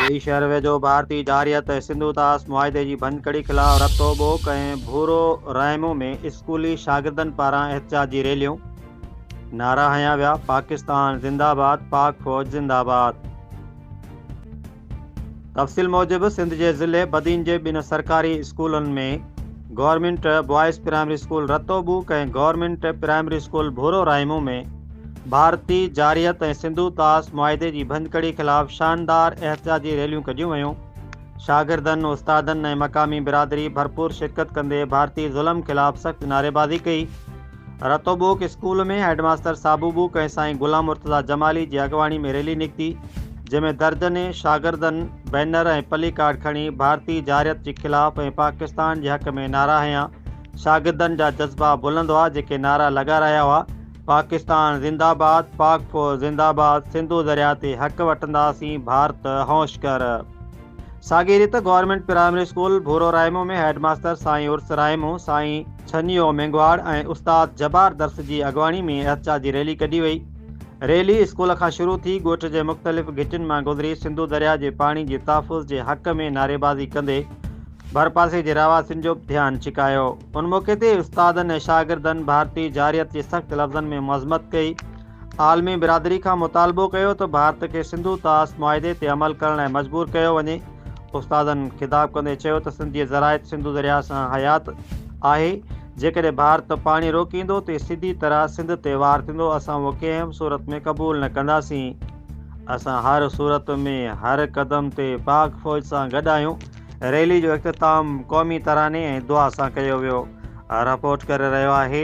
هي شهر ويجهو ڀارتي جارحيت ۽ سنڌو طاس معاهدي جي ڀڃڪڙي خلاف رتو ٻوڪ ۽ ڀورو رائمو ۾ اسڪولي شاگردن پاران احتجاجي ريليون، نعرا هنيا ويا، پاڪستان زنده آباد، پاڪ فوج زنده آباد. تفصيل موجب سنڌ جي ضلعي بدين جي ٻن سرڪاري اسڪولن ۾ government boys primary school Rato Bok ۽ government primary school Bhoro Raimo ۾ ڀارتي جارحيت ۽ سنڌو طاس معاهدي جي ڀڃڪڙي خلاف شاندار احتجاجي ريليون ڪڍيون ويون شاگردن استادن ۽ مقامي برادري ڀرپور شرڪت ڪندي ڀارتي ظلم خلاف سخت نعريبازي ڪئي Rato Bok school ۾ headmaster Sabu Bok ۽ سائين غلام مرتضيٰ جمالي جي اڳواڻي ۾ ريلي نڪتي جنهن ۾ درجنين شاگردن بينر ۽ پلي ڪارڊ کڻي ڀارتي جارحيت جي خلاف ۽ پاڪستان جي حق ۾ نعرا هنيا شاگردن جا جذبا بلند هئا جيڪي نعرا لڳا رهيا هئا پاڪستان زنده باد پاڪ فوج زنده باد سنڌو درياء تي حق وٺنداسين ڀارت هوش ڪر. ساڳي ريت government primary school Bhoro Raimo ۾ head master سائين عرس رائمو، سائين ڇنيو مينگهواڙ ۽ استاد جبار درس جي اڳواڻي ۾ احتجاجي ريلي ڪڍي وئي. ريلي اسڪول کان شروع ٿي ڳوٺ جي مختلف گهٽين مان گذري سنڌو درياء جي پاڻي جي تحفظ جي حق ۾ نعريبازي ڪندي ڀرپاسي جي رهواسين جو به ڌيان ڇڪايو. ان موقعي تي استادن ۽ شاگردن ڀارتي جارحيت جي سخت لفظن ۾ مذمت ڪئي. عالمي برادري کان مطالبو ڪيو ته ڀارت کي سنڌو طاس معاهدي تي عمل ڪرڻ لاء مجبور ڪيو وڃي. استادن خطاب ڪندي چيو ته سنڌ جي زراعت سنڌو درياهه سان حيات آهي، جيڪڏهن ڀارت پاڻي روڪيندو ته سڌي طرح سنڌ تي وار ٿيندو، اسان اهو ڪنهن به صورت ۾ قبول نه ڪنداسين، اسان هر صورت ۾ هر قدم تي پاڪ فوج سان گڏ آهيون، ريلي جو اختتام قومي تراني ۽ دعا سان ڪيو ويو. رپورٽ ڪري رهيو آهي.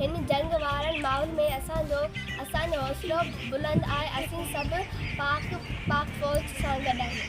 هن جنگ وارن ماحول ۾ اسان جو اسان جو حوصلو بلند آهي اسين سڀ پاڪ پاڪ فوج سان گڏ آهيون.